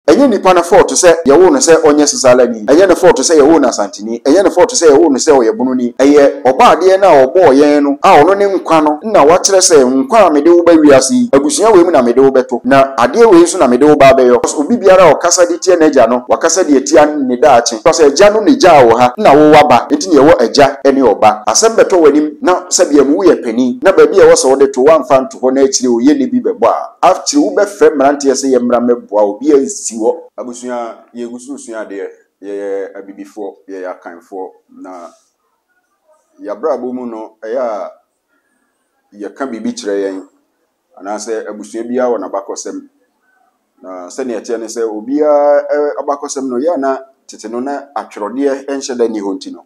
Ɛnyɛ nipa no fɔɔto sɛ yɛwoo no sɛ ɔnyɛ Sesaalani, ɛnyɛ ne fɔɔto sɛ yɛwoo no Asanteni, ɛnyɛ ne fɔɔto sɛ yɛwoo no sɛ ɔyɛ Bononi. Ɛyɛ Ɔbɔadeɛ no a ɔbɔɔ yɛn no a ɔno ne nkwa no na wakyerɛ sɛ, Nkwa a mede wo ba wiase yi, abusua wei mu na mede wo bɛto, na adeɛ wei nso na mede wo ba abɛyɔ. Cos obi biara a ɔkasa de tia n'agya no, wakasa de atia ne daakye. Cos agya no na egyaa wo ha na wo waba, enti na yɛwɔ agya ne ɔba. Asɛm bɛtɔ w'anim na sɛbea mu woyɛ panin na baabi a ɛwɔ sɛ wode to woamfa anto hɔ na akyire oye ne bi bɛbɔ a, Akyire wobɛfrɛ mmeranteɛ sɛ yɛmmra mmɛboa wo, obiara nsi hɔ. Abusua, yɛgu so resua adeɛ, yɛyɛ abibifoɔ, yɛyɛ akanfoɔ, na yɛabrabɔ mu no ɛyɛ a yɛka biribi kyerɛ yɛn, anaasɛ abusua biara wɔ n'abakɔsɛm, na sɛdeɛ ɛteɛ ne sɛ obiara abakɔsɛm no ɛyɛ a na tete no na atwerɛdeɛ nhyɛ da nni hɔ nti no,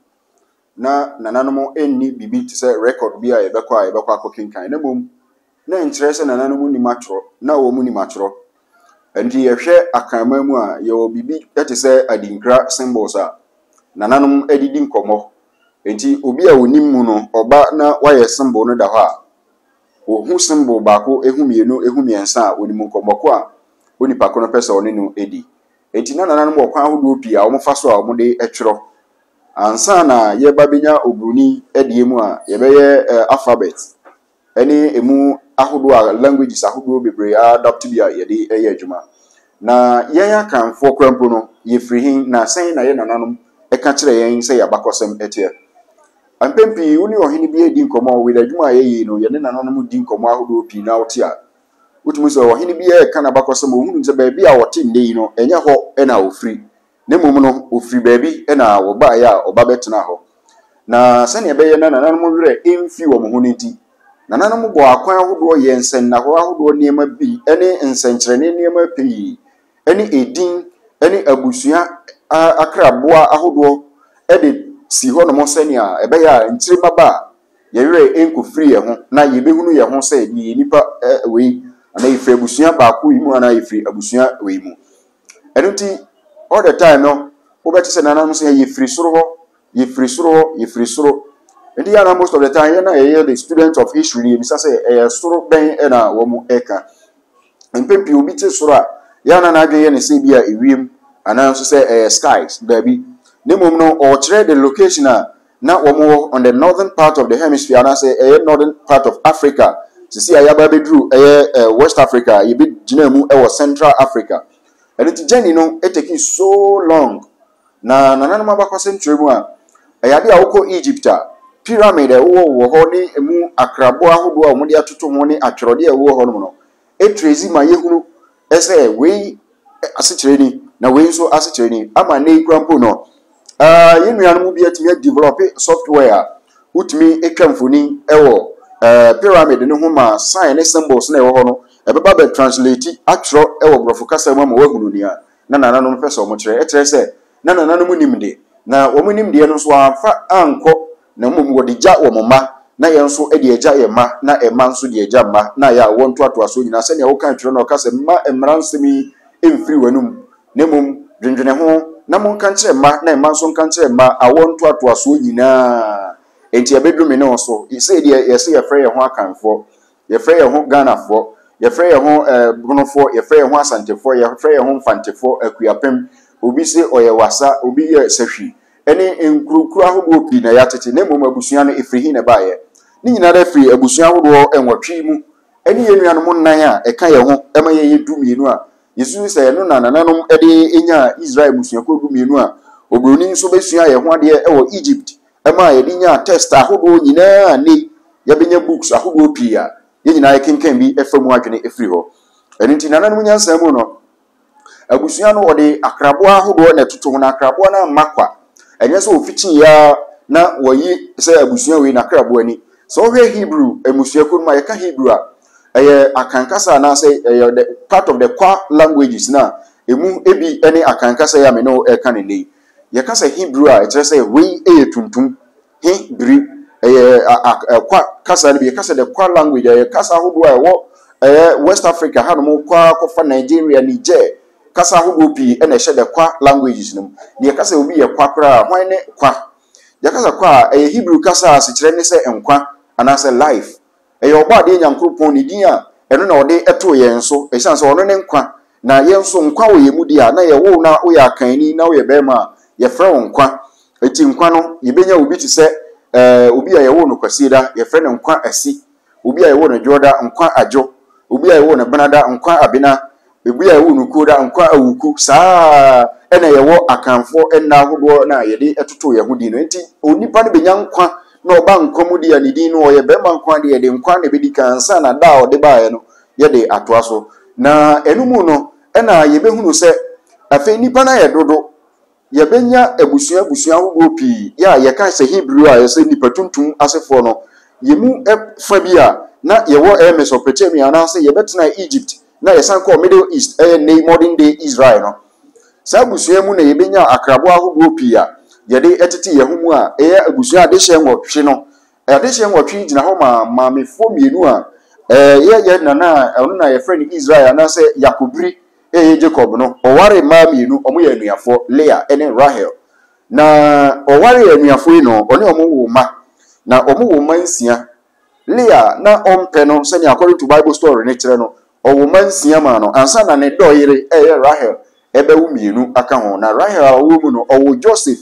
na nananom nni biribi te sɛ rekɔd bi a yɛbɛkɔ a yɛbɛkɔ akɔkenkan, na mmom na ɛnkyerɛ sɛ nananom nnim atwerɛ, na wɔnnim atwerɛ. Ɛnti yɛhwɛ Akanman mu a, yɛwɔ biribi te sɛ adinkra symbols a nananom de di nkɔmmɔ. Ɛnti obi a ɔnim mu no, ɔba na wayɛ symbol no da hɔ a, ɔhu symbol baako, ɛhu mmienu, ɛhu mmiɛnsa a, ɔnim nkɔmmɔ ko a onipa ko no pɛ sɛ ɔne no di. Ɛnti na nananom wɔ kwan ahodoɔ pii a wɔfa so a wɔde twerɛ. Ansa na yɛreba bɛnya Oburoni deɛ mu a, yɛbɛyɛ alphabet ne ɛmu ahodoɔ a languages ahodoɔ bebree a adapt bi a yɛde yɛ adwuma. Na yɛn Akanfoɔ koraa mpo no, yɛfiri he na sɛn na yɛn nananom ka kyerɛ yɛn sɛ yɛn abakɔsɛm teɛ? Mpɛn pii wo ne ɔhene bi redi nkɔmmɔ with adwuma a yɛyɛ yi no, yɛne nananom di nkɔmmɔ ahodoɔ pii na wote a, wotumi sɛ ɔhene bi reka n'abakɔsɛm, wohunu sɛ baabi a ɔte nnɛ yi no, ɛnyɛ hɔ na ɔfiri. Na mmom no, wɔfirii baabi na wɔbaeɛ a wɔba bɛtenaa hɔ. Na sɛdeɛ ɛbɛyɛ na nananom werɛ remfiri wɔn ho no nti, nananom bɔɔ akwan ahodoɔ yɛɛ nsɛnnahɔɔ ahodoɔ nneɛma bi ne nsɛnkyerɛnne nneɛma pii ne edin ne abusua akraboa ahodoɔ de sii hɔnom sɛdeɛ ɛbɛyɛ a nkyirima ba a, yɛn werɛ renkɔfiri yɛn ho na yɛbɛhunu yɛn ho sɛ yɛyɛ nnipa wei, anaa yɛfiri abusua baako yi mu anaa yɛfiri abusua wei mu. Ɛno nti, all the time no, wobɛte sɛ nananom sɛ yɛfiri soro hɔ, yɛfiri soro hɔ, yɛfiri soro. Nti yɛ na most of the time yɛn a yɛyɛ the student of history no yɛbisa sɛ ɛyɛ soro bɛn na wɔn ɛka. Mpɛn pii obi te soro a, yɛ na n'adwene yɛ ne sɛ bi a ewiem anaa nso sɛ ɛyɛ skies, daabi. Ne mmom no, ɔkyerɛ the location a Na wɔn wɔ on the northern part of the hemisphere anaasɛ ɛyɛ northern part of Africa sisi a yaba abɛduru ɛyɛ eh, West Africa a yɛbɛgyinaa mu ɛwɔ Central Africa ɛno nti journey no eteki so long na nananom abakɔsɛm kyerɛ mu a ɛyɛ adeɛ a wokɔ Egypt a pyramid a ɛwowɔ wɔ hɔ ne emu akrabo ahodoɔ a wɔde atoto ho ne atwerɛdeɛ a ɛwowɔ hɔ nom no Ɛkyerɛ dzi ma yehunu sɛ wei asekyerɛ ni na wei nso asekyerɛ ni. Ama nnɛ yi koraa mpo no, yɛn nuanom bi atumi a develop software a wotumi twa mfoni wɔ pyramid no ho ma sign ne symbols na ɛwɔ hɔ no, ɛbɛba bɛ translate atwerɛ wɔ borɔfo kasa mu ama woahunu nea na nananom pɛ sɛ wɔkyerɛ. Ɛkyerɛ sɛ na nananom nim de, na wɔn nimdeɛ no nso wɔamfa ankɔ, na mmom wɔde gya wɔn mma, na yɛn nso de agya yɛn mma, na mma nso de agya mma, na ayɛ awoɔ ntoatoasoɔ nyinaa, sɛdeɛ wokae twerɛ no a ɔka sɛ, Mma mmara nsɛm yi mmfiri w'anom, na mmom dwendwene ho, na monka nkyerɛ mma, na mma nso nka nkyerɛ mma, awoɔ ntoatoasoɔ nyinaa. Enti ɛbɛduru me ne wo so, sɛdeɛ yɛse yɛfrɛ yɛn ho Akanfoɔ. Yɛfrɛ yɛn ho Ghanafoɔ, yɛfrɛ yɛn ho eh, Bonofoɔ, yɛfrɛ yɛn ho Asantefoɔ, yɛfrɛ yɛn ho Mfantefoɔ, Akuapem, obi se ɔyɛ Wasa, obi yɛ Sahwi, ɛne nkurokuro ahodoɔ pii na yɛatete, na mmom abusua no ɛfiri he na ɛbaeɛ? Ne nyinara firi abusua ahodoɔ nwɔtwe mu, ɛne yɛn nuanom nnan a ɛka yɛn ho ma yɛyɛ du mmienu a yɛsusu sɛ ɛno na nananom de nyaa Israel mmusuakuo du mmienu a Oburoni nso bɛsuaa yɛn ho adeɛ wɔ Egypt Ɛmaa yɛde nyaa tɛst ahodoɔ nyinaa a nnɛ yi yɛbɛnya books ahodoɔ pii a yɛn nyinaa yɛkenkan bi fa mu adwene firi hɔ. Ɛno nti nananom nyansa mu no, abusua no wɔde akraboa ahodoɔ na ɛtoto ho, na akraboa no amma kwa. Ɛnyɛ sɛ wɔfikyiiɛ ara na wɔayi sɛ abusua wei n'akraboa ni. Sɛ wohwɛ Hebrew mmusuakuo no mu a, yɛka Hebrew a, ɛyɛ Akan kasa anaasɛ ɛyɛ the part of the Kwa languages no a ɛmu ebi ne Akan kasa yi a me ne wo reka no nnɛ yi. Yɛka sɛ Hebri a, ɛkyerɛ sɛ wei yɛ tuntum. He bri, ɛyɛ Kwa kasa no bi. Yɛka sɛ the Kwa language, ɛyɛ kasa ahodoɔ a ɛwɔ ɛyɛ West Africa hanom kɔ ara kɔfa Nigeria, Niger. Kasa ahodoɔ pii na ɛhyɛ the Kwa languages no mu. Na yɛka sɛ obi yɛ Kwa koraa a, hwan ne Kwa? Yɛka sɛ Kwa a, ɛyɛ Hebri kasa a asekyerɛ ne sɛ nkwa anaasɛ life. Ɛyɛ Ɔbɔadeɛ Nyankoropɔn ne din a ɛno na ɔde too yɛn so ɛsiane sɛ ɔno ne nkwa, na yɛn nso nkwa wɔ yɛn mu deɛ a, na yɛwoo na woyɛ akanni na woyɛ barima a, yɛfrɛ wo nkwa. Enti nkwa no, yɛbɛnya obi te sɛ eh, obi a yɛwoo no Kwasieda, yɛfrɛ no Nkwa Asi, obi a yɛwoo no Dwoɔda, Nkwa Adwo, obi a yɛwoo no Benada, Nkwa Abena, Ebia ɛwɔ no kuo daa nkwa awuku saa ara na yɛwɔ Akanfoɔ nna ahodoɔ na yɛde totoo yɛn ho din no. Enti onipa no bɛnya nkwa na ɔba nkwa mu deɛ a ne din no ɔyɛ barima nko ara deɛ, ɛde nkwa na ɛbɛdi kan ansa na da a ɔde baeɛ no yɛde atoa so. Na ɛno mu no na yɛbɛhunu sɛ afei nnipa no ayɛ dodo. Yɛbɛnya abusua abusua ahodoɔ pii. Yɛ a yɛka sɛ Hebri a yɛsɛ nnipa tuntum asefoɔ no, yɛn mu fa bi a na yɛwɔ ɛyɛ Mesopotamia anaasɛ yɛbɛtenaa Egypt na yɛsan kɔɔ Middle East ɛyɛ nnɛ yi modern day Israel no. Saa abusua mu na yɛbɛnyaa akraboa ahodoɔ pii a yɛde tete yɛn ho mu a ɛyɛ abusua adehyeɛ nwɔtwe no. Adehyeɛ nwɔtwe yi gyina hɔ ma maamefoɔ mmienu a ɛyɛ yɛn nana a ɔno na yɛfrɛ no Israel anaasɛ Yakobri Eee Jacob no, ɔwaree mmaa mmienu, wɔyɛ anuafoɔ, Leah ne Rahel. Na ɔwaree anuafoɔ yi no, ɔne wɔn woo mma, na wɔwoo mma nsia. Leah, na ɔmpɛ no, sɛnea According to Bible Story no kyerɛ no, ɔwoo mma nsia maa no ansa na ne dɔ yere a ɛyɛ Rahel bɛwo mmienu aka ho. Na Rahel a ɔwɔ mu no, ɔwoo Joseph,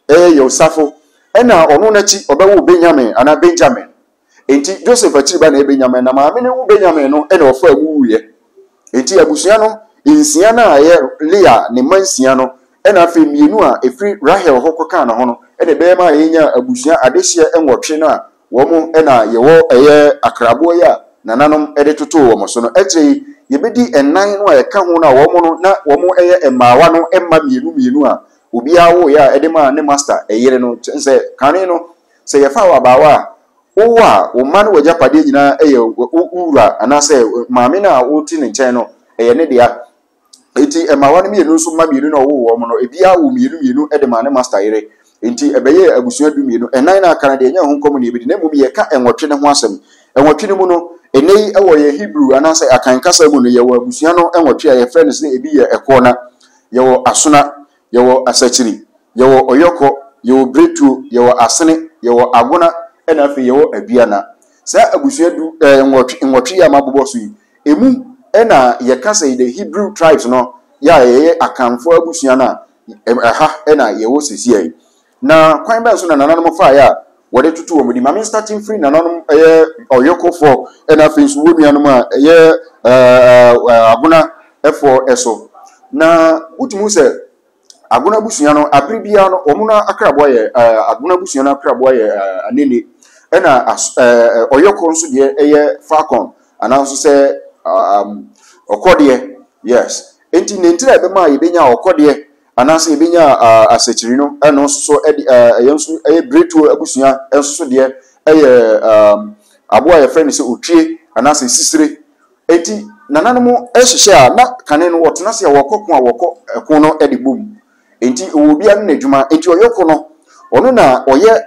ɛyɛ Yosafo, ɛnna ɔno no akyi ɔbɛwoo Benyamin anaa Benjamin. Enti Joseph akyiri ba na ɛyɛ Benyamin, na maame no wu Benyamin no na ɔfaa mu wuiɛ. Enti abusua no nsia no a ɛyɛ Lea ne mma nsia no na afei mmienu a ɛfiri Rahel hɔ kɔkaa ne ho no na ɛbɛyɛ ma yɛnyaa abusua adehyeɛ nwɔtwe no a wɔn na yɛwɔ ɛyɛ akraboɔ yi a nananom de totoo wɔn so no. Akyire yi yɛbɛdi nnan no a ɛka ho no a wɔn no na wɔn yɛ mmaawa no mma mmienu mmienu a obiara woeɛ a ɛde maa ne masta yere no. Kyɛn sɛ kane no Sɛ yɛfa wo abaawa a, wowɔ a, wo mma ne w'agyapadeɛ nyinaa yɛ wo wura anaasɛ maame no a wote ne nkyɛn no, ɛyɛ ne dea. Enti mmaawa no mmienu nso mma mmienu no a ɔwoo wɔn no, ebiara woo mmienu mmienu de maa ne masta yere. Enti ɛbɛyɛɛ abusua dummienu. Ɛnan no a aka no deɛ, ɛnyɛ ɛho nkɔm na yɛbɛdi, na mmom yɛreka nwɔtwe no ho asɛm. Nwɔtwe no mu no, ɛnnɛ yi wɔ yɛn Hebrew anaasɛ Akan kasa mu no, yɛwɔ abusua no nwɔtwe a yɛfrɛ no sɛ ebi yɛ Ɛkoɔna, yɛwɔ Asona, yɛwɔ asakyiri, yɛwɔ ɔyɔkɔ, yɛwɔ biretuo, yɛwɔ asene, yɛwɔ agona ɛna afei yɛwɔ aduana. Saa abusua du eh, nwɔtwe, nwɔtwe yi a mabobɔ so yi, ɛmu ɛna yɛka sɛ the Hebrew tribes no, yɛ a yɛyɛ Akanfoɔ abusua no a ɛha ɛna yɛwɔ sesia yi. Na kwan bɛn so na nananom faeɛ a wɔde toto wɔn anim? Maame Nstate mfiri nananom yɛ ɔyɔkofoɔ na afei nso wɔ nuanom a ɛyɛ agonafoɔ so. Na wotumi hu sɛ agona abusua no abere biara no wɔn no akraboa yɛ agona abusua no akraboa yɛ anene ɛna ɔyɔko nso deɛ yɛ falcon ananso sɛ ɔkɔdeɛ yes nti ne ntira ɛbɛma yɛbɛnya ɔkɔdeɛ Anaasɛ yɛbɛnya asakyiri no, ɛno nso so ɛde ɛyɛ nso ɛyɛ biretuo abusua nso so deɛ ɛyɛ aboa a yɛfrɛ no sɛ otwie anaasɛ sisire. Enti nananom hyehyɛ a na kane no wɔtena ase a wɔkɔ ko a wɔkɔ ɛko no de bom. Enti ɛwɔ obiara ne n'adwuma. Enti ɔyɔko no ɔno na ɔyɛ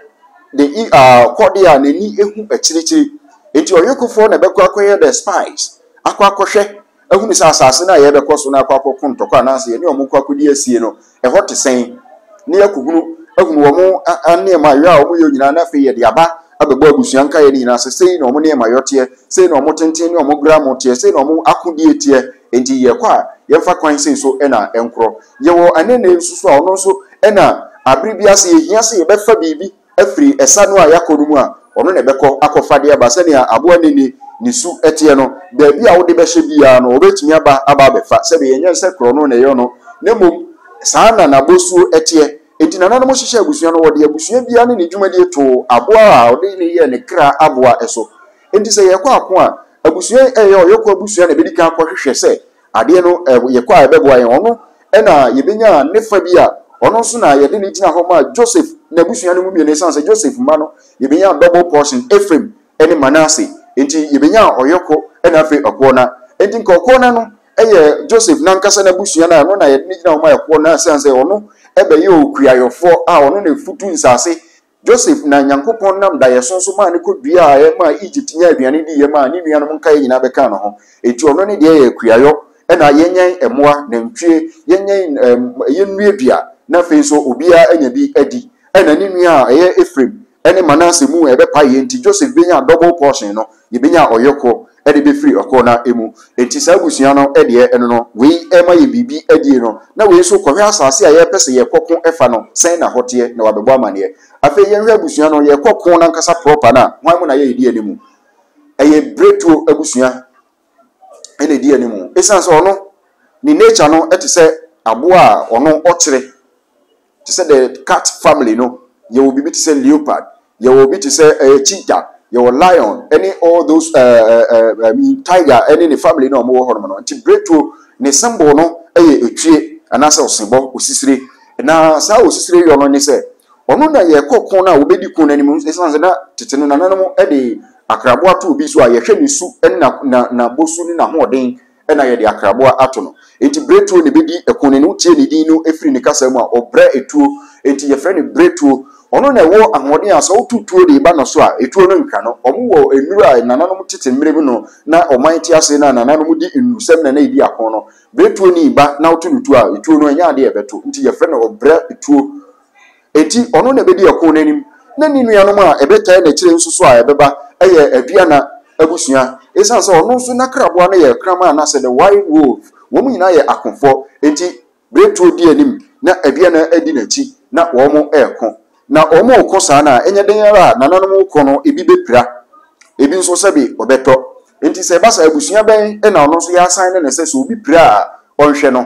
the i a kɔdeɛ a n'ani hu akyirikyiri. Enti ɔyɔkofoɔ na ɛbɛkɔ akɔyɛ the spies akɔ akɔhwɛ. ahunu sɛ asase no a yɛrebɛkɔ so na akɔ akɔko ntɔkwa anaasɛ yɛne wɔn kɔ akɔdi asie no, ɛhɔ te sɛn, na yɛakɔhunu ahunu wɔn nneɛma yɔ a wɔyɔ nyinaa, na afei yɛde aba abɛbɔ abusua nkaeɛ no nyinaa sɛ sei na wɔn nneɛma yɔ teɛ, sei na wɔn tenten ne wɔn gramo teɛ, sei na wɔn akodie teɛ. Enti yɛkɔ a, yɛmfa kwan sei so na ɛnkorɔ. Yɛwɔ anene nso so a ɔno nso na abere bi ase yɛhia sɛ yɛbɛfa biribi. afiri ɛsa no a yɛakɔ no mu a, ɔno na ɛbɛkɔ akɔfa de aba. Sɛnea aboa nini ne su teɛ no, baabi a wode bɛhyɛ biara no, ɔbɛtumi aba aba abɛfa. Sɛdeɛ ɛnyɛ sɛ korɔno na ɛyɛ no, na mmom saa ara na n'abɔsuo teɛ. Enti nananom hyehyɛɛ abusua no, wɔde abusua biara ne ne dwumadie too aboa a wɔde no yɛɛ ne kra aboa so. Enti sɛ yɛrekɔ ako a, abusua yi, ɛyɛ ɔyɔko abusua na ɛbɛdi kan akɔhwehwɛ sɛ Adeɛ no yɛ kɔ a ɛbɛboa yɛn. Ɔno na yɛbɛnya ne fa bi a ɔno nso na yɛde no gyina hɔ maa Joseph n'abusua no mu mmienu ɛsiane sɛ Joseph mma no yɛbɛnya double portion Ephraim ne Manasseh nti yɛbɛnya ɔyɔko na afei ɔkoɔ na nti nka ɔkoɔ na no yɛ Joseph nankasa n'abusua no a ɛno na yɛde no gyina hɔ maa ɛkoɔ na ɛsiane sɛ ɔno ɛbɛyɛ okuayɔfoɔ a ɔno na ɛfutu nsase Joseph na Nyankopɔn nam daeɛso so maa no kɔ dua a ɛmaa Egypt nyaa aduane diiɛ maa ne nuanom nkaeɛ nyinaa bɛkaa ne ho. Enti ɔno ne deɛ yɛ akuayɔ na yɛnyɛn mmoa, nantwie, yɛnyɛn ɛɛm yɛnnuadua na afei nso obiara anya bi adi. Ɛna ne nua a ɛyɛ Ephraim ne Manasseh mu ɛbɛpaeɛ nti Joseph bɛnyaa double portion no, yɛbɛnyaa ɔyɔkoɔ. de bɛfiri ɔko no ara mu. Enti saa abusua no deɛ ɛno no, wei rema yɛn biribi adie no, na wei nso kɔhwɛ asase a yɛrepɛ sɛ yɛkɔ ko fa no, sɛn na hɔ teɛ, na wabɛbɔ amanneɛ. Afei yɛnhwɛ abusua no, yɛrekɔ ko no ankasa prɔpa no a, hwan mu na yɛredi anim? Ɛyɛ Bretuo abusua na ɛdi anim. Ɛsiane sɛ ɔno, ne nature no te sɛ aboa a ɔno ɔkyere. te sɛ the cat family no, yɛwɔ biribi te sɛ leopard, yɛwɔ bi te sɛ ɛyɛ cheetah, yɛwɔ lion ne all those ɛɛ ɛɛ ɛɛ tiger ne ne family no a wɔwɔ hɔnom no. Nti biretuo ne symbol no yɛ otwie anaasɛ ɔsebɔ, osisire. Na saa osisire yɔ no ne sɛ ɔno na yɛkɔ ko no a wɔbɛdi ko no anim ɛsiane sɛ na tete no nananom de akraboa to obi so a yɛhwɛ ne su ne na na n'abosu ne n'ahoɔden na yɛde akraboa ato no. Enti Bretuo na ɛbɛdi ɛko no. Wotie ne din no firi ne kasa mu a, ɔbrɛ tuo. Enti yɛfrɛ no Bretuo. Ɔno na ɛwɔ ahoɔden a sɛ woto tuo de ba no so a, tuo no ntwa no. Wɔwɔ nnuru a nananom tete mmerɛ mu no, na ɔman te ase na nananom di nnurusɛm na na ɛdi ako no. Bretuo ni ba na woto no tuo a, tuo no ɛnyɛ adeɛ a ɛbɛto. Enti yɛfrɛ no ɔbrɛ tuo. Enti ɔno na ɛbɛdi ɛko no anim, na ne nuanom a ɛbɛtaa no akyire nso so a ɛbɛba yɛ aduana abusua. Ɛsiane sɛ ɔno nso n'akraboa no yɛ kraman anaasɛ the wild wolf, wɔn nyinaa yɛ akofoɔ, enti Berɛtuo di anim na aduana di n'akyi na wɔreko. Na wɔreko saa no a, ɛnyɛ den ara a nananom reko no ebi bɛpira, ebi nso sɛbe ɔbɛtɔ. Enti sɛ ɛba saa a, abusua bɛn na ɔno nso yɛasan ne no sɛ sɛ obi pira a ɔnhwɛ no?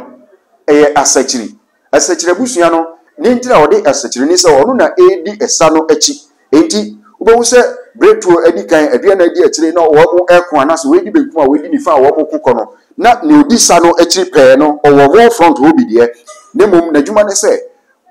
Ɛyɛ asakyiri. Asekyerɛ abusua no ne nti na wɔde asekyerɛ ni sɛ ɔno na ɛredi ɛsa no akyi. Enti, wobɛhu sɛ bere tuo adi kan, aduanan di akyire na wɔreko anaasɛ wɔredi benkum a wɔredi nifa a wɔreko kɔ no, na nea ɔdi sa no akyiri pɛɛ no, ɔwɔ wɔn front hɔ bi deɛ, na mmom n'adwuma ne sɛ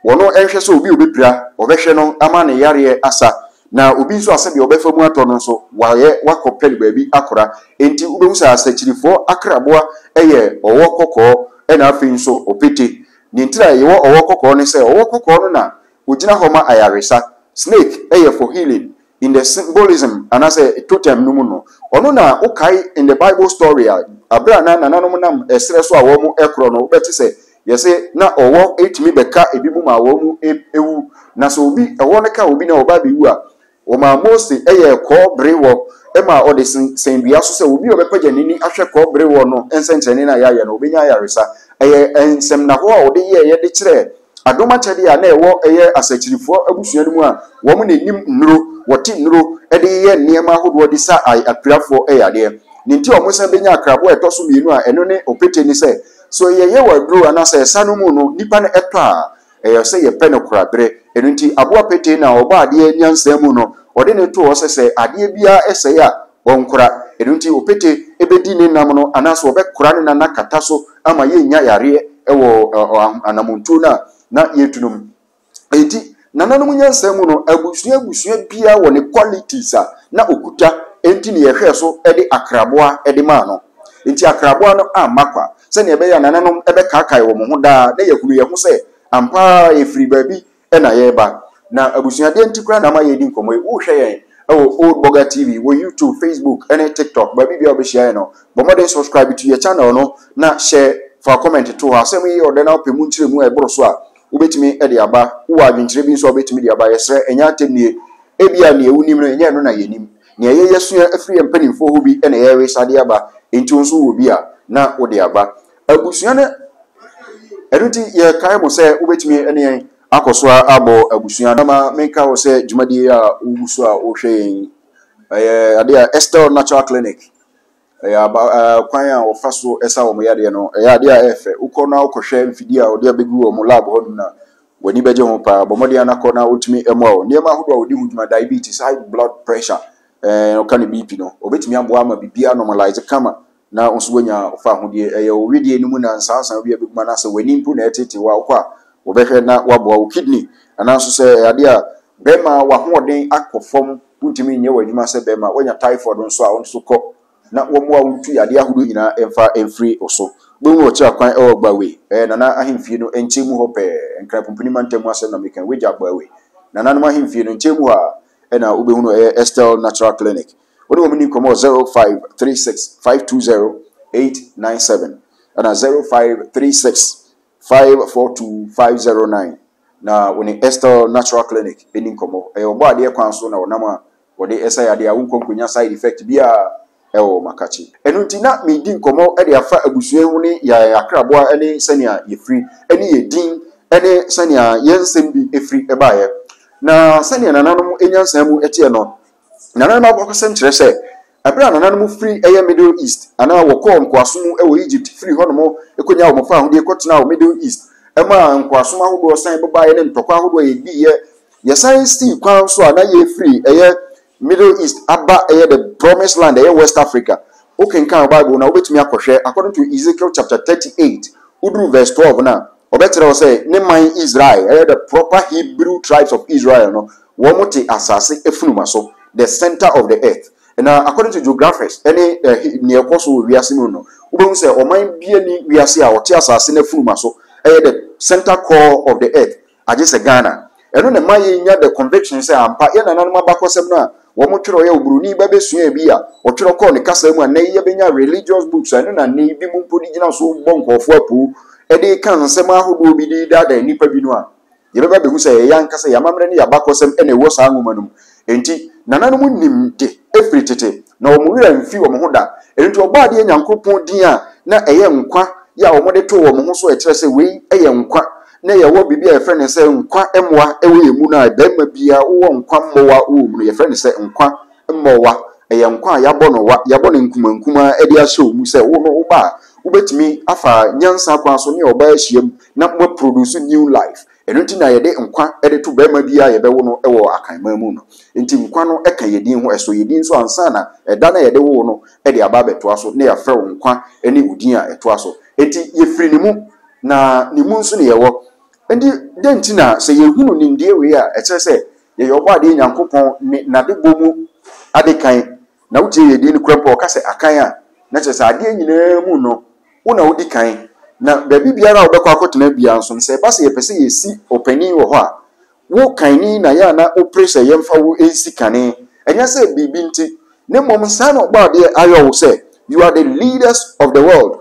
ɔno nhwɛ sɛ obi a ɔbɛpira, ɔbɛhwɛ no ama ne yareɛ asa, na obi nso a sɛdeɛ ɔbɛfa mu atɔ no nso, wayɛ, wakɔ pɛ no baabi akora. Enti, wobɛhu sɛ asekyerefɔɔ akraboa yɛ ɔwɔ kɔkɔɔ, ɛna afei nso opete. Nea nti a yɛwɔ ɔwɔ kɔkɔɔ ne sɛ ɔwɔ kɔkɔɔ no na ogyina hɔ ma ayaresa. Snake yɛ for healing. In the symbolism anaasɛ totem no mu no, ɔno na wokae in the bible story a, bere a na nananom nam ɛserɛ so a wɔrekorɔ no, wobɛte sɛ yɛse na ɔwɔ tumi bɛka ebinom a wɔawu. Na sɛ obi, ɔwɔ no ka obi na ɔba abɛwu a, Wɔmaa Mose yɛɛ kɔɔ berewɔ ma ɔde sensɛn dua so sɛ obi a ɔbɛpagya n'ani ahwɛ kɔɔ berewɔ no nsɛnkyerɛnne no a yɛayɛ no, ɔbɛnya ayaresa. Ɛyɛ nsɛmnahɔ a ɔde yɛeɛ de kyerɛɛ adom akyɛdeɛ a na ɛwɔ ɛyɛ asakyirefoɔ abusua no mu a wɔn na ɛnim nnuro, wɔte nnuro de yeyɛ nneɛma ahodoɔ de sa apirafoɔ yadeɛ. Deɛ nti a wɔsan bɛnya akraboa a ɛtɔ so mmienu a ɛno ne opete ne sɛ, sɛ yɛyɛ wɔ aduro anaasɛ ɛsa no mu no, nnipa no tɔ a, Ɛyɛ sɛ yɛpɛ no kora bere. Ɛno nti, aboa petee no a ɔbɔ adeɛ nyansa mu no, ɔde no to hɔ sɛ sɛ adeɛ biara sɛe a, ɔnkora. Ɛno nti, opete bɛdi ne nam no anaasɛ ɔbɛkora no na no akata so ama yɛnnya yareɛ wɔ anammɔntuo no a na yɛretu no mu. Enti, nananom nyansa mu no, abusua abusua biara wɔ ne qualities a na ɔkuta, enti na yɛhwɛɛ so de akraboa de maa no. Enti akraboa no amma kwa sɛnea ɛbɛyɛ a nananom bɛkaakae wɔn ho daa na yɛahunu yɛn ho sɛ ampa ara yɛfiri baabi na yɛreba. Na abusua, deɛn nti koraa na ama yɛredi nkɔmmɔ yi? Worehwɛ yɛn wɔ Old Burger TV wɔ YouTube, Facebook, ne TikTok, baabi biara a wobɛhyia yɛn no, bɔ mmɔden subscribe to yɛn channel no na hyɛ fa comment to hɔ. Asɛm yi yɛ ɔdɛ na wopɛ mu nkyerɛmu a ɛboro so a, wobɛtumi de aba. Wowɔ adwenkyerɛ bi nso a wobɛtumi de aba a, yɛsrɛ, ɛnyɛ atɛmnie. Ebia nea wonim no, ɛnyɛ ɛno na yɛnim. Nea yɛyɛ asua afiri yɛn mpanimfoɔ hɔ bi na yɛresa de aba, enti wo nso wɔ bi a, na wode aba. Abusua no, Ɛno nti yɛkae mo sɛ wobɛtumi ne yɛn akɔ so ara abɔ abusua no. Ma menka wo sɛ dwumadie a wogu so a wohwɛ yɛn yi, ɛyɛ adeɛ a Estelle Natural Clinic, ɛyɛ aba ɛɛ kwan a wɔfa so sa wɔn yadeɛ no ɛyɛ adeɛ a ɛyɛ fɛ wokɔ na wokɔhwɛ mfidie a wɔde abɛgu wɔn lab hɔ nom no a w'ani bɛgye ho paa bɔ mmɔden ara kɔ na wotumi mmoa wɔn nneɛma ahodoɔ a wɔde ho dwuma diabetes high blood pressure ɛɛ ɔka ne bp no wɔbɛtumi aboa ama biribiara normalise kama na nso woanya fa ahodeɛ ɛyɛ wo wedeɛ no mu na nsansan bi abɛguma no asɛ w'ani mpo na ɛtete wo a wokɔ a wɔbɛhwɛ na waboa wo kidney anaa nso sɛ ɛyɛ adeɛ a Bɛrima, w'ahoɔden akɔ fam, wontumi nyɛ w'adwuma sɛ bɛrima, woanya typhoid nso a, wo nso kɔ na wɔmmoa wo ntu yadeɛ ahodoɔ nyinaa mfa mfiri wo so. Wobɛhunu ɔkyerɛ kwan wɔ Agboawe, ɛyɛ Nana ahemfie no nkyɛn mu hɔ pɛɛ, Nkran Pumpuni mantam mu asɛm na meka yi, wogya Agboawe, Nananom ahemfie no nkyɛn mu hɔ a, ɛna wobɛhunu ɛyɛ Estelle Natural Clinic. Wo ne wɔn nni nkɔmmɔ wɔ 0536 520 897 ɛna 0536. Five four two five zero nine Na wo ne Estelle Natural Clinic ɛni nkɔmmɔ. Ɛyɛ ɔbɔ adeɛ kwan so na ɔnam a wɔde ɛsa yadeɛ a wonkɔ nkonya side effect biara ɛwɔ makakye. Ɛno nti na medi nkɔmmɔ de afa abusua ho ne yaɛ akraboa ne sɛnea yɛfiri ne yɛn din ne sɛnea yɛn nsɛm bi firi baeɛ. Na sɛnea nananom nyansaa mu teɛ no, Nananom abakɔsɛm kyerɛ sɛ, bere a nananom firi ɛyɛ Middle East anaa wɔkɔɔ nkoasom mu wɔ Egypt firii hɔnom konyaa wɔn fawohodie kɔtenaa wɔ Middle East maa nkoasom ahodoɔ san babaeɛ ne ntɔkwa ahodoɔ a yɛdiiɛ. Yɛsan sii kwan nso a na yɛrefiri ɛyɛ Middle East aba ɛyɛ the Promised Land ɛyɛ West Africa. Wokenkan wo Bible no a, wobɛtumi akɔhwɛ according to Ezekiel chapter 38, woduru verse 12 no a, wɔbɛkyerɛ wo sɛ ne man Israel, ɛyɛ the proper Hebrew tribes of Israel no, Wɔte asase funuma so, the centre of the earth. Na according to geographers ne nea ɛkɔ so wɔ wiase mu no, wobɛhu sɛ ɔman biara nni wiase a ɔte asase no funuma so yɛ the centre core of the earth agye sɛ Ghana. Ɛno na ɛma yɛnya the conviction sɛ ampa yɛn nananom abakɔsɛm no a wɔtwerɛeɛ a Oburoni ba bɛsuaeɛ bi a ɔtwerɛ kɔɔ ne kasa mu a nnɛ yi yɛbɛnya religious books a ɛno na nnɛ yi binom mpo de gyina so bɔ nkurɔfoɔ apoo de ka nsɛm ahodoɔ bi de daadaa nnipa bi no a Yɛbɛba abehu sɛ ɛyɛ yɛn ankasa yɛn amammerɛ ne yɛn abakɔsɛm na ɛwɔ saa nwoma no mu. Enti, nananom nim de firi tete, na wɔn werɛ amfi wɔn ho da. Ɛno nti, Ɔbɔadeɛ Nyankopɔn din a na ɛyɛ nkwa yɛ a wɔde too wɔn ho so a ɛkyerɛ sɛ wei yɛ nkwa, na yɛwɔ biribi a yɛfrɛ no sɛ nkwa mmoa wɔ yɛn mu no a barima biara wowɔ nkwa mmoa wɔ wo mu no, yɛfrɛ no sɛ nkwa. Mmoawa, Ɛyɛ nkwa a yɛabɔ no wa, yɛabɔ no nkumaa nkumaa de ahyɛ wo mu sɛ wo no woba a, wobɛtumi afa nyansa kwan so ne ɔbaa ahyiam na mo aproduce new life. Ɛno nti na yɛde nkwa de to barima biara a yɛbɛwo no wɔ Akanman mu no. Nti nkwa no ka yɛn din ho, ɛsɔ yɛn din nso ansa na ɛda no a yɛde wo wo no de aba abɛtoa so na yɛafrɛ wo nkwa ne wo din a ɛtoa so. Nti yɛfiri ne mu na ne mu nso na yɛwɔ. Nti dɛn nti na sɛ yɛhunu nimdeɛ wei a ɛkyerɛ sɛ Yɛyɛ Ɔbɔadeɛ Nyankopɔn ne n'adebɔ mu ade kan, na wotie yɛn din no koraa mpo a, ɔka sɛ akan a, na kyerɛ sɛ adeɛ nyinaa mu no, wo na wodi kan. Na baabi biara a wobɛkɔ akɔtena biara nso no, sɛ ɛba sɛ yɛpɛ sɛ yɛsi ɔpanin wɔ hɔ a, wo kanni na yɛ a na wopere sɛ yɛmfa wo nsi kane. Ɛnyɛ sɛ biribi nti, na mmom saa na Ɔbɔadeɛ ayɔ wo sɛ, you are the leaders of the world.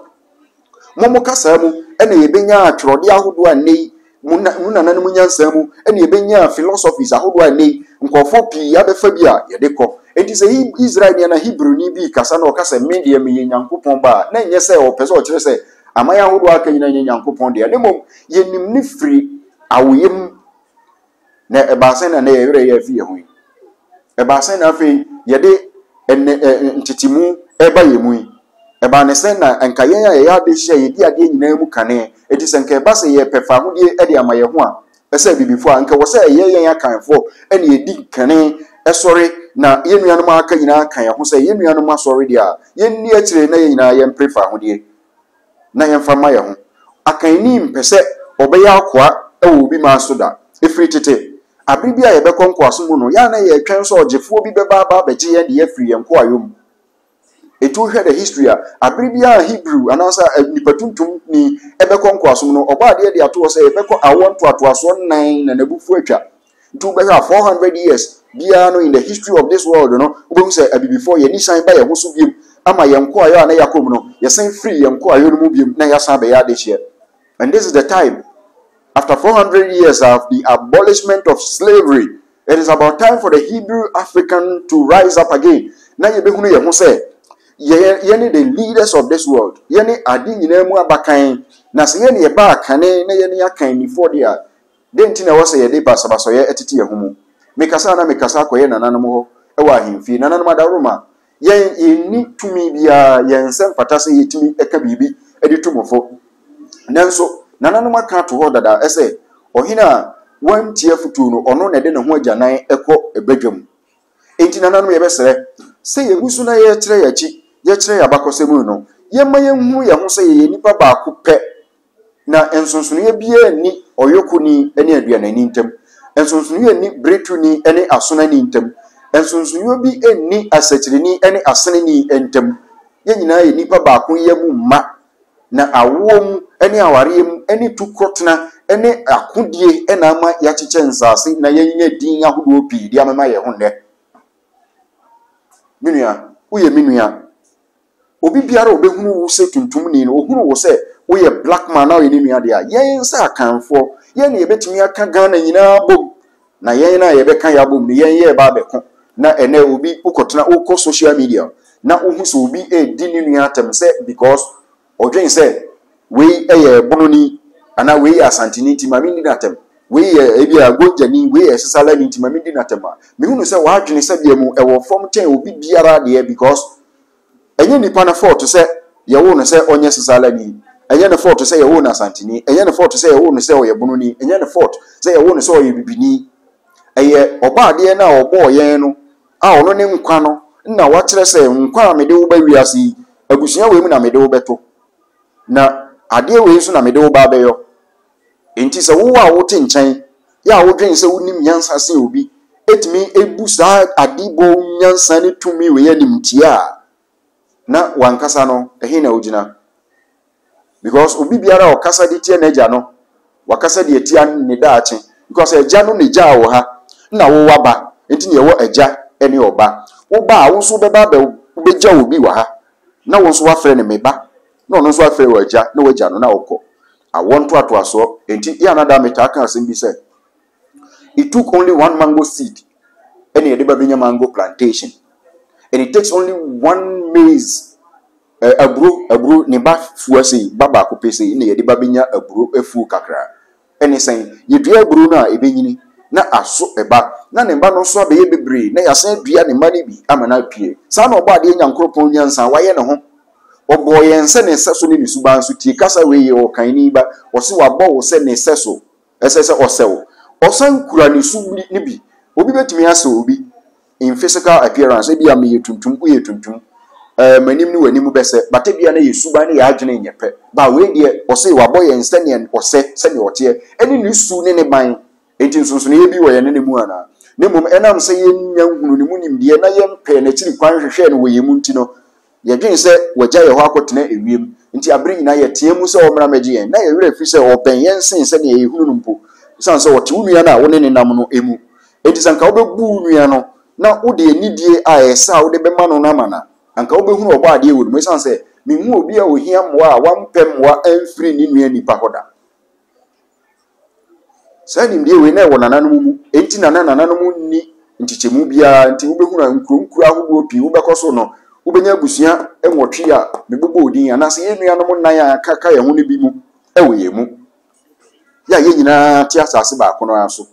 Mo mo kasaa mu na yɛbɛnyaa twerɛdeɛ ahodoɔ a nnɛ yi mo na, mo nananom nyansaa mu na yɛbɛnyaa philosophies ahodoɔ a nnɛ yi nkurɔfoɔ pii abɛfa bi a yɛde kɔ. Enti sɛ He, Israelni anaa Hebrewni bi rekasa na ɔka sɛ, Me deɛ meyɛ Nyankopɔn ba a, na ɛnyɛ sɛ ɔpɛ sɛ ɔkyerɛ sɛ aman ahodoɔ a aka nyinaa nyɛ Nyankopɔn dea, na mmom yɛnim no firi awoeɛ mu. Na ɛbaa sɛ na ɛnɛ yɛn werɛ yɛ afi yɛn ho yi. Ɛbaa sɛ na afei yɛde ɛnɛ ɛ ntetemu ɛreba yɛn mu yi. Ɛbaa ne sɛ na nka yɛn a yɛyɛ ade hyɛ yɛdi adeɛ nyinaa mu kane. Enti sɛ nka ɛba sɛ yɛrepɛ fawohodie de ama yɛn ho a, ɛsɛ Abibifoɔ a, nka ɛwɔ sɛ ɛyɛ yɛn Akanfoɔ na yɛdi kane sɔre na yɛn nuanom a aka nyinaa ka yɛn ho sɛ yɛn nuanom asɔre deɛ a, yɛnni akyire na yɛn nyinaa yɛmpere fawohodie. na yɛmfa mma yɛn ho. Akanni mpɛ sɛ ɔbɛyɛ akoa wɔ obi man so da. Ɛfiri tete, bere bi a yɛbɛkɔ nkoasom mu no, yɛn a na yɛretwɛn sɛ ɔgyefoɔ bi bɛba aba abɛgye yɛn deɛ afiri yɛn nkoayɔ mu. Ɛtu wohwɛ the history a, bere bi a Hebrew anaasɛ nnipa tuntum ni bɛkɔ nkoasom no, ɔbɔadeɛ de ato hɔ sɛ yɛbɛkɔ awoɔ ntoatoasoɔ nnan na n'abufuo atwa. Nti wobɛhwɛ a four hundred years biara no in the history of this world no, wobɛhu sɛ abibifoɔ yɛn ani san ba yɛn ho so biom ama yɛn nkoayɔ a na yɛakɔ mu no, yɛsan firi yɛn nkoayɔ no mu biom na yɛasan abɛyɛ adehyeɛ. And this is the time, after four hundred years of the abolishment of slavery, it is about time for the Hebrew African to rise up again na yɛbɛhunu yɛn ho sɛ yɛ, yɛne the leaders of this world, yɛne ade nyinaa mu abakan, na sɛ yɛne yɛbaa kane na yɛne akannifoɔ deɛ a, Dɛn nti na ɛwɔ sɛ yɛde basabasayɛ tete yɛn ho mu? Mekasa a na mekasa akɔyɛ nananom hɔ wɔ ahemfie. Nananom adaworoma, yɛn, yenni tumi biara, yɛn nsa mfata sɛ yetumi ka biribi de tu mo fo. Nanso, nananom aka ato hɔ dada sɛ, Ɔhene a wantie afotu no, ɔno na ɛde ne ho agyanan kɔ badwam. Enti, nananom, yɛbɛsrɛ sɛ yegu so na yɛkyerɛ yɛn akyi, yɛkyerɛ yɛn abakɔsɛm mu no, yɛmma yenhu yɛn ho sɛ yɛyɛ nnipa baako pɛ. Na nsonsonoeɛ biara nni ɔyɔkoni ne aduanani ntam, nsonsonoeɛ nni beretuni ne asonani ntam, nsonsonoeɛ bi nni asakyireni ne aseneni ntam. Yɛn nyinaa yɛ nnipa baakoyɛ mu mma, na awoɔ mu ne awareɛ mu ne tu kɔtena ne akodie na ama yɛakyekyɛ nsaase na yɛanya din ahodoɔ pii de amema yɛn ho nnɛ. Me nua, woyɛ me nua. Obi biara a ɔbɛhunu wo sɛ tuntumni no, ɔhunu wo sɛ woyɛ black man na woyɛ ne nua deɛ a, yɛn sɛ Akanfoɔ, yɛn na yɛbɛtumi aka Ghana nyinaa abom. Na yɛn na yɛbɛka yɛ abom no, yɛn yɛreba abɛko. Na ɛnɛ obi, wokɔtena, wokɔ social media na wohu sɛ obi redi ne nua atɛm sɛ because ɔdwen sɛ wei yɛ Bononi anaa wei yɛ Asanteni nti ma menni no atɛm, wei yɛ ebi a Gonjani, wei yɛ Sesalani nti ma menni no atɛm a, mehunu sɛ w'adwene sɛbea mu ɛwɔ fam kyɛn obi biara deɛ because Ɛnyɛ nipa no fɔɔto sɛ yɛwoo no sɛ ɔnyɛ Sosaalani, ɛnyɛ ne fɔɔto sɛ yɛwoo no Asanteni, ɛnyɛ ne fɔɔto sɛ yɛwoo no sɛ ɔyɛ Bononi, ɛnyɛ ne fɔɔto sɛ yɛwoo no sɛ ɔyɛ Bibini. Ɛyɛ Ɔbɔadeɛ no a ɔbɔɔ yɛn no a ɔno ne nkwa no na wakyerɛ sɛ, Nkwa a mede wo ba wiase yi, abusua wei mu na mede wo bɛto, na adeɛ wei nso na mede wo ba abɛyɔ. Enti sɛ wo a wote nkyɛn yi a wodwen sɛ wunim nyansa sen obi tumi bu saa adebɔ nyansa ne tumi wei animtiaa a, na w'ankasa no, ɛhe na wugyina? Because obi biara a ɔkasa de tia n'agya no, wakasa de atia ne daakye. Because agya no na egyaa wo ha, na wowɔ aba, enti na yɛwɔ agya ne ɔba. Wo ba a, wo nso wobɛba abɛ, wobɛgya obi wɔ ha, na wo nso woafrɛ no me ba. Na ɔno nso afrɛ wo Agya na woagya no na wokɔ. Awoɔ ntoatoasoɔ. Enti yɛ a na daa metaa ka asɛm bi sɛ, It took only one mango seed ɛna yɛde ba bɛnya mango plantation. And it takes only one maize eh, aburo, aburo ne ba fua sei, ba baako pɛ sei na yɛde ba bɛnya aburo afuo kakra. ne sɛn? Yedua aburow no a, ebenyini na aso ba, na ne mma no nso abɛyɛ bebree, na yɛasan adua ne mma no bi ama no apue. Saa na Ɔbɔadeɛ Nyankoropɔn nyansa a wayɛ ne ho. Ɔbɔɔ yɛn sɛ ne sɛso ne ne suban so. Tie kasa wei yɛ ɔɔkanni ba. Ɔse wabɔ wo sɛ ne sɛso. Ɛsɛ sɛ ɔsɛ wo. Ɔsan kura ne su no bi. Obi betumi asɛ obi. in physical appearance, ebia meyɛ tuntum, woyɛ tuntum, eh, m'anim ne w'anim bɛsɛ, but ebia na yɛ suban ne yɛ adwene nyɛ pɛ, ba wei deɛ ɔse wabɔ yɛn sɛdeɛ ɔsɛ, sɛdeɛ ɔteɛ, ɛne ne su ne ne ban, enti nsonsonoeɛ bi wɔ yɛne ne mu anaa? Na mmom ɛnam sɛ yɛnnya nhunuu ne mu nimdeɛ na yɛmpɛɛ n'akyiri kwan nhwehwɛɛ no wɔ yɛn mu nti no, Yɛdwen sɛ wɔagya yɛn hɔ akɔtena ewiem, enti bere nyinaa yɛteɛ mu sɛ ɔmmra mmɛgye yɛn. Na yɛn werɛ afi sɛ ɔbɛn yɛn sen sɛnea yɛhunu no mpo, esiane sɛ ɔte wo nua no a wo ne no nam no mu. Enti sɛ anka wobɛbu wo nua no na wode anidie a ɛyɛ sɛ a wode bɛma no no ama no a, anka wobɛhunu Ɔbɔadeɛ wɔ ne mu. Esiane sɛ menhuu obi a ɔhia mmoa a wampɛ mmoa amfiri ne nua nnipa hɔ da. Saa nimdeɛ wei na ɛwɔ nananom mu, enti na na nananom nni nkyekyɛmu biara, nti wobɛhunu a nkuro nkuro ahodoɔ pii wobɛkɔ so no, wobɛnya abusua nwɔtwe a mebobɔɔ din, anaasɛ yɛn nuanom nnan a aka ka yɛn ho no bi mu wɔ yɛn mu. Yɛ a yɛn nyinaa te asase baako no ara so.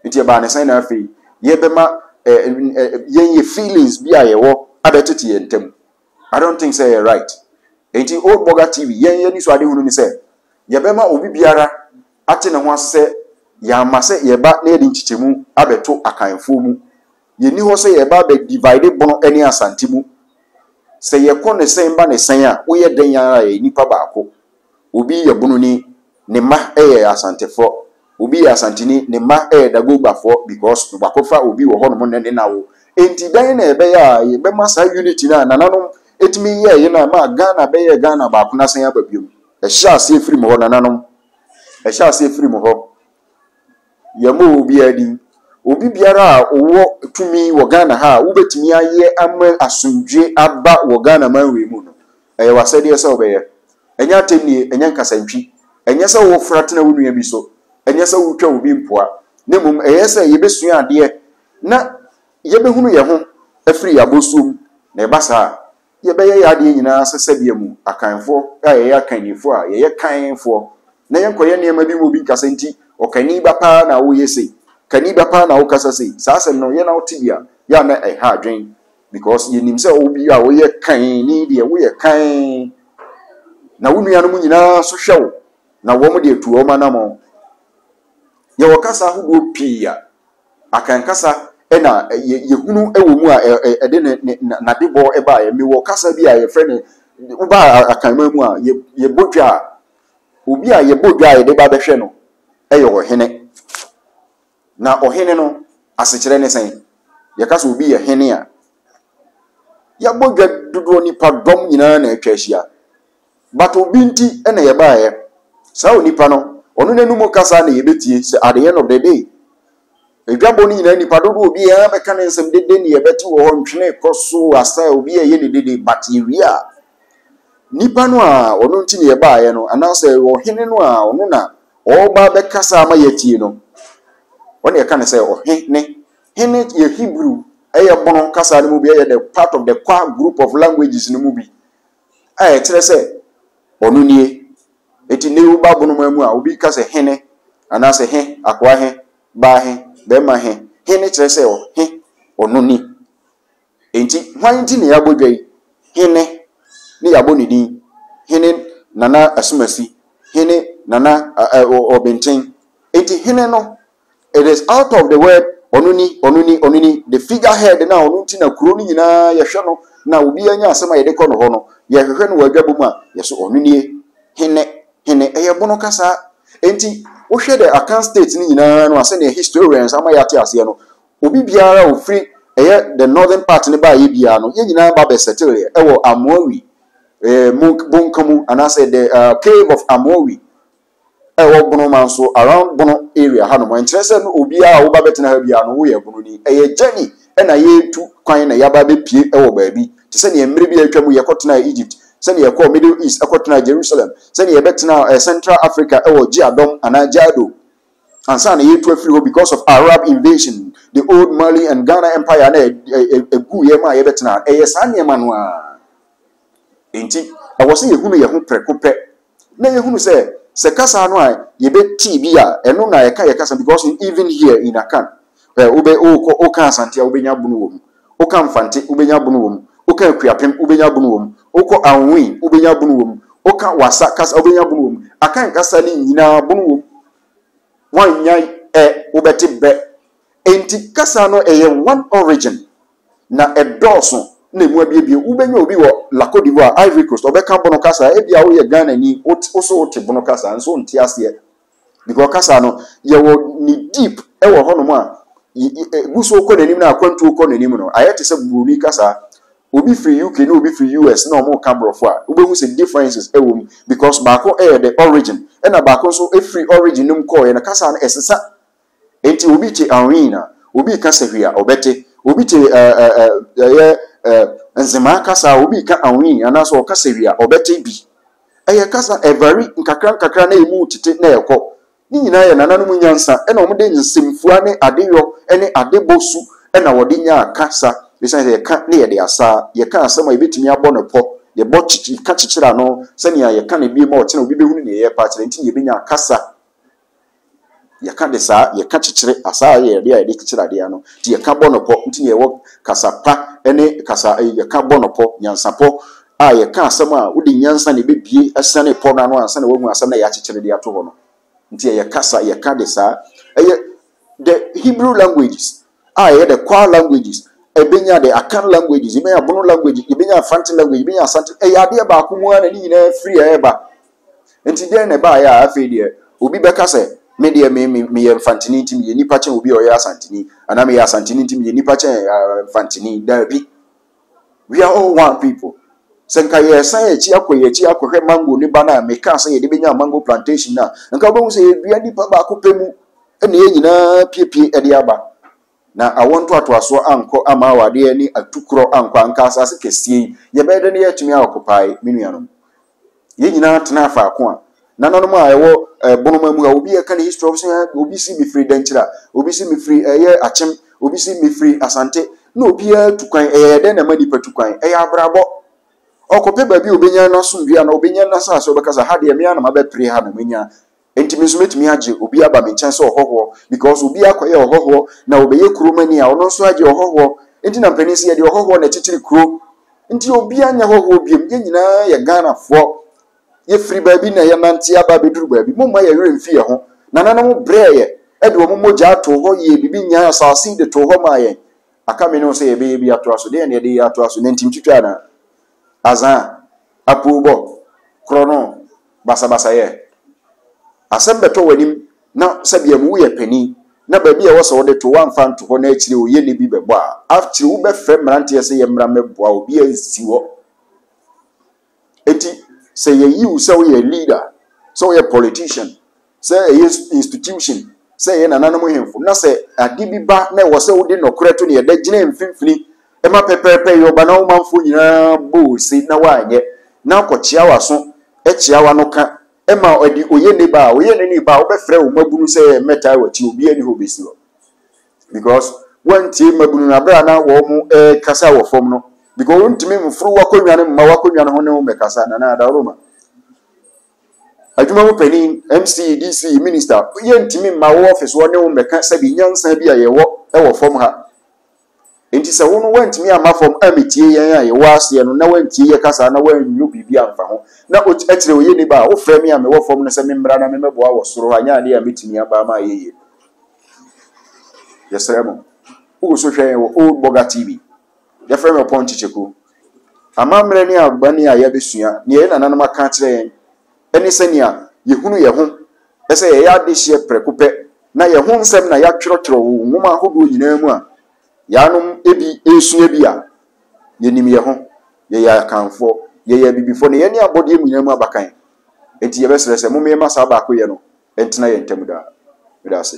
Nti ɛbaa ne sɛn na afei yɛbɛma eh, eh, yɛn yɛ feelings bi a yɛwɔ abɛtete yɛn ntam. I don't think sɛ ɛyɛ right. Enti Old Burger TV, yɛn yɛn anisoade hunu ne sɛ yɛbɛma obi biara ate ne ho ase sɛ yɛama sɛ yɛba na yɛde nkyekyɛmu abɛto Akanfoɔ mu. Yɛnni hɔ sɛ yɛba abɛ divide Bono ne Asante mu. Sɛ yɛkɔ ne sɛn ba ne sɛn a, woyɛ dɛn ara a yɛyɛ nnipa baako. Obi yɛ Bononi, ne mma yɛ Asantefoɔ. Obi yɛ Asanteni, ne mma yɛ Dagogbafoɔ because Dwakɔfa Obi wɔ hɔnom nnɛ ne n'awo. Enti dɛn na ɛbɛyɛ a yɛbɛma saa unity no a nananom tumi yɛeɛ no a ɛmaa Ghana bɛyɛɛ Ghana baako no asan aba biom? Ɛhyɛ aseɛ firi mo hɔ, nananom. Ɛhyɛ aseɛ firi mo hɔ. Yɛmmɔɔ obiara din. Obi biara a ɔwɔ tumi wɔ Ghana ha a wobɛtumi ayɛ ama asomdwoe aba wɔ Ghana man wei mu no, ɛyɛ w'asɛdeɛ sɛ wobɛyɛ. Ɛnyɛ atɛnnie, ɛnyɛ nkasantwi, ɛnyɛ sɛ wofra tena wo nua bi so, ɛnyɛ sɛ wotwa obi mpoa, na mmom ɛyɛ sɛ yɛbɛsua adeɛ na yɛbɛhunu yɛn ho afiri yɛn abɔsoɔ mu. Na ɛba saa a, Yɛbɛyɛ yɛn adeɛ nyinaa sɛ sɛdeɛ mu Akanfoɔ a yɛyɛ Akannifoɔ a yɛyɛ Kanfoɔ na yɛnkɔyɛ nneɛma bi ma obi nka sɛ nti Ɔkani ba paa na woyɛ sei, Kani ba paa na wokasa sei. Saa asɛm no, yɛn na wote bi a, yɛ a na ɛha adwen because yɛnim sɛ obi a woyɛ Kanni deɛ woyɛ Kan na wo nuanom nyinaa nso hwɛ wo na wɔn deɛ tu wɔn anammɔn. Yɛwɔ kasa ahodoɔ pii a. Akɛnkasa na yɛhunu wɔ mu a ɛde n'adebɔ baeɛ. Mewɔ kasa bi a yɛfrɛ no, woba akanman mu a, yɛbɔ dwa a, obi a yɛbɔ dwa a yɛde ba bɛhwɛ no yɛ ɔhene. Na ɔhene no asekyerɛ ne sɛn? Yɛka sɛ obi yɛ hene a, yɛabɔ dwa dodoɔ, nnipadɔm nyinaa na atwa ahyia. But obi nti na yɛbaeɛ. Saa onipa no, ɔno n'anum kasa na yɛbɛtie sɛ at the end of the day. Adwabɔ no nyinaa nnipa dodoɔ obi ara bɛka ne nsɛm dede na yɛbɛte wɔ hɔ, ntwene kɔ so asa obi reyɛ ne dede but yɛwie a, nipa no a ɔno nti na yɛbaeɛ no anaasɛ ɔhene no a ɔno na ɔreba bɛkasa ama yɛatie no, ɔne yɛka ne sɛ ɔhe ne. Hene yɛ Hebrew, ɛyɛ bono kasa no mu bi, ɛyɛ the part of the Kwa group of languages no mu bi. a ɛkyerɛ sɛ ɔno nie. Enti nnɛ yi woba bonoma mu a, obi ka sɛ hene anaasɛ he, akoa he, baa he, barima he. He no kyerɛ sɛ ɔhe, ɔno ni. Enti hwan nti na yɛabɔ dwa yi? Hene ne yɛabɔ ne din. Hene Nana Asumasi, hene Nana Ɔbenten. Enti hene no It is out of the word ɔno ni, ɔno ni, ɔno ni, the figure head na ɔno nti na kuro no nyinaa yɛhwɛ no na obiara nya asɛm a yɛde kɔ no hɔ no, yɛhwehwɛ no wɔ adwabɔ mu a, yɛso ɔno nie, hene, hene, ɛyɛ bono kasa. Enti wohwɛ the Akan state no nyinaa no a sɛdeɛ historians ama yɛate aseɛ no, obi biara a ɔfiri ɛyɛ the northern part no baeɛ biara no, yɛn nyinaa ba bɛ settleeɛ ɛwɔ Amoawi eh, Bonka mu anaasɛ the uh, cave of Amoawi ɛwɔ Bono man so around Bono area hanom ɛnkyerɛ sɛ no obiara a woba bɛtena ha biara no woyɛ Bononi. Ɛyɛ journey na yɛretu kwan na yɛaba abɛpue wɔ baabi te sɛ neɛ mmerɛ bi a atwa mu yɛkɔtenaa Egypt, sɛdeɛ yɛkɔɔ Middle East ɛkɔtenaa Jerusalem, sɛdeɛ yɛbɛtenaa Central Africa wɔ Djiadom anaa Djado ansa na yɛretu afiri hɔ because of Arab invasion, the old Mali and Ghana Empire na ɛguiɛ maa yɛbɛtenaa. Ɛyɛ saa nneɛma no ara. Enti, ɛwɔ sɛ yehunu yɛn ho prɛko pɛ na yehunu sɛ, sɛ kasa no a yebetee bi a ɛno na ɛka yɛn kasa no, because in even here in Akan, eh, wobɛ, wokɔ, woka Asante a, wobenya bunu wɔ mu. Woka Mfante, wobenya bunu wɔ mu. Woka Akuapem, wobenya bunu wɔ mu. Wokɔ Anhui, wobenya bunu wɔ mu. Woka Wassa kasa, wobenya bunu wɔ mu. Akan kasa no nyinaa, bunu wɔ mu. Woannya ɛ, wobɛte bɛ. Enti, kasa no, ɛyɛ one origin. na ɛdɔɔso na emu abiebie. Wobɛnya obi wɔ La Côte d'Ivoire, Ivory Coast, ɔbɛka Bono kasa, ebia woyɛ Ghanani, wo so wote Bono kasa nso wonte aseɛ because kasa no yɛwɔ ne deep wɔ hɔnom a ɛgu so kɔ n'anim na akwantuo kɔ n'anim no ayɛ te sɛ Buroni kasa. Obi firi UK na obi firi US na wɔreka borɔfo a, wobɛhu sɛ differences wɔ mu because baako yɛ the origin ɛna baako nso firi origin no mu kɔɔeɛ no kasa no ɛsesa. Enti obi te aween a, obi reka sahwi a, ɔbɛte. Obi te ɛ ɛ ɛ ɛyɛ ɛ nzemaa kasa a, obi reka aween anaasɛ ɔreka sahwi a, ɔbɛte bi. Ɛyɛ kasa, ɛvari nkakra nkakra na emu retete na ɛrekɔ. Ne nyinaa yɛ nananom nyansa na wɔde nsɛmfua ne adeyɔ ne adebɔ su na wɔde nyaa kasa, esiane sɛ yɛka na yɛde asaa, yɛka asɛm a yebetumi abɔ no pɔ, yɛbɔ kyekye ka kyekyere ano sɛnea yɛka no bio ma ɔkyena obi behu ne nneyɛe pa akyerɛ nti na yebenya kasa. Yɛka de saa, yɛka kyekyere, asaa yɛ adeɛ a yɛde kyekyere adeɛ ano, nti yɛka bɔ no pɔ, nti na yɛwɔ kasa pa ne kasa, yɛka bɔ no pɔ, nyansapɔ, a yɛka asɛm a wode nyansa na ɛbɛbue asiane pɔ no ano ansa na woahu asɛm no a yɛakyekyere de ato hɔ no. Nti ɛyɛ kasa, yɛka de saa. Ɛyɛ the Hebrew languages. a ɛyɛ dɛ, Kwa languages, ebenya dɛ, Akan languages, ebenya Bono languages, ebenya Mfanti language, ebenya Asante, ɛyɛ adeɛ baako mu ara na ne nyinaa firi ɛreba. Nti dɛn na ɛbaeɛ a afei deɛ obi bɛka sɛ, me deɛ me, me, meyɛ Mfantini nti meyɛ nipa kyɛn obi a ɔyɛ Asantini, anaa meyɛ Asantini nti meyɛ nipa kyɛn Mfantini? Daabi. We are all one people. Sɛ nka yɛsan yɛn akyi akɔ yɛn akyi akɔhwɛ mango ne ba no a mekaa sɛ yɛde bɛnya mango plantation no a, nka wobɛhu sɛ yɛdua nipa baako pɛ mu na yɛn nyinaa piepie de aba. Na awɔ ntoatoasoɔ ankɔ ama awadeɛ ne atukorɔ ankɔ anka asase kɛseɛ yi yɛbɛyɛ dɛ na yɛatumi akɔpae me nuanom. Yɛn nyinaa tenaa faako a nananom a ɛwɔ eh, bonoma mu a obi ɛka ne history ɔbɛsɛ eh, obi si mefiri dɛnkyira obi si mefiri ɛyɛ eh, akyem obi si mefiri asante na obiara tu kwan ɛyɛ dɛn na ɛma nipa tu kwan ɛyɛ abrabɔ ɔkɔpɛ baabi a obɛnya n'asomdwe a na obɛnya n'asase ɔbɛkasa ha deɛ mmea na mabɛpere ha na manya Enti me nso mɛtumi agye obi aba me nkyɛn sɛ ɔhɔhoɔ because obiara kɔyɛɛ ɔhɔhoɔ na ɔbɛyɛ kuromani a ɔno nso agye ɔhɔhoɔ nti na mpanin sɛ yɛde ɔhɔhoɔ na ɛkyekyere kuro nti obiara nyɛ hɔhoɔ biom yɛn nyinaa yɛ Ghanafoɔ yɛfiri baabi na yɛnante aba abɛduru baabi momma yɛn werɛ mfi yɛn ho nananom brɛɛ yɛ ɛde wɔn mogyaa too hɔ yɛɛ biribi nyaa asase de too hɔ maa yɛn aka me ne wo sɛ yɛbɛyɛ bi atoa so deɛ na yɛde yɛ atoa so nantim twitwa anaa azaa apuobɔ korɔ no basabasayɛ. Asɛm bɛtɔ w'anim na sɛdeɛ mu woyɛ panin na baabi a ɛwɔ sɛ wode to woamfa anto hɔ na akyire oyieni bi bɛbɔ a, akyire wobɛfrɛ mmeranteɛ sɛ yɛmmra mmɛboa wo, obiara nsi hɔ. Enti sɛ yɛyi wo sɛ woyɛ leader, sɛ woyɛ politician, sɛ ɛyɛ institution, sɛ ɛyɛ nananom hemfo, na sɛ ade bi ba na ɛwɔ sɛ wode nɔkorɛ to ne ɛdɛ gyina mfimfini ma pɛpɛɛpɛ yɛ ɔba na wo manfoɔ nyinaa bɔ ose na woanyɛ na akɔkyea w'aso kyea w'ano ka ma ɔde oye ne ba a oye ne ne ba a wobɛfrɛ wo mmabunu sɛ mmɛtaa w'akyi obiara ni hɔ bɛsi hɔ because woantie mmabunu no aberɛ a na wɔn kasa wɔ fam no because wontumi mforo w'akonnwa no mma w'akonnwa no ho ne wo mmɛkasa nana adaworoma Adwuma mu panyin, MC, DC, Minista, yɛntumi mma wo ɔfese hɔ ne wo mmɛka sɛbi nyansa bi a yɛwɔ wɔ fam ha. Enti sɛ wo no woantumi amma fam ammetie yɛn a yɛwɔ aseɛ no na woantie yɛ kasa na woannwo biribi amfa ho na ot ɛkyerɛ ɔyɛ nnipa a wofrɛ me a mewɔ fam no sɛ memmra na memmɛboa wɔ soro hɔ anyɛ adeɛ a mɛtumi aba ama ayɛ yie. Yɛsrɛ mo. Wogu so hwɛ yɛn wɔ Old Boga TV. Yɛfrɛ no ɔpɔn nkyekyɛkuo. Amammerɛ ne amanneɛ a yɛabɛsua, deɛ yɛn nananom aka akyerɛ yɛn, ne sɛnea yɛhunu yɛn ho sɛ yɛyɛ adehyeɛ prɛko pɛ, na yɛn ho nsɛm na yɛatwerɛtwerɛ wɔ nwoma ahodoɔ nyinaa mu a yɛanom bi resua bi a, yɛnim yɛn ho. Yɛyɛ Akanfoɔ, yɛyɛ Abibifoɔ, na yɛne abɔdeɛ nyinaa mu abakan. Enti yɛbɛsrɛ sɛ momma yɛmma saa baakoyɛ no ntena yɛn ntam daa. Meda ase.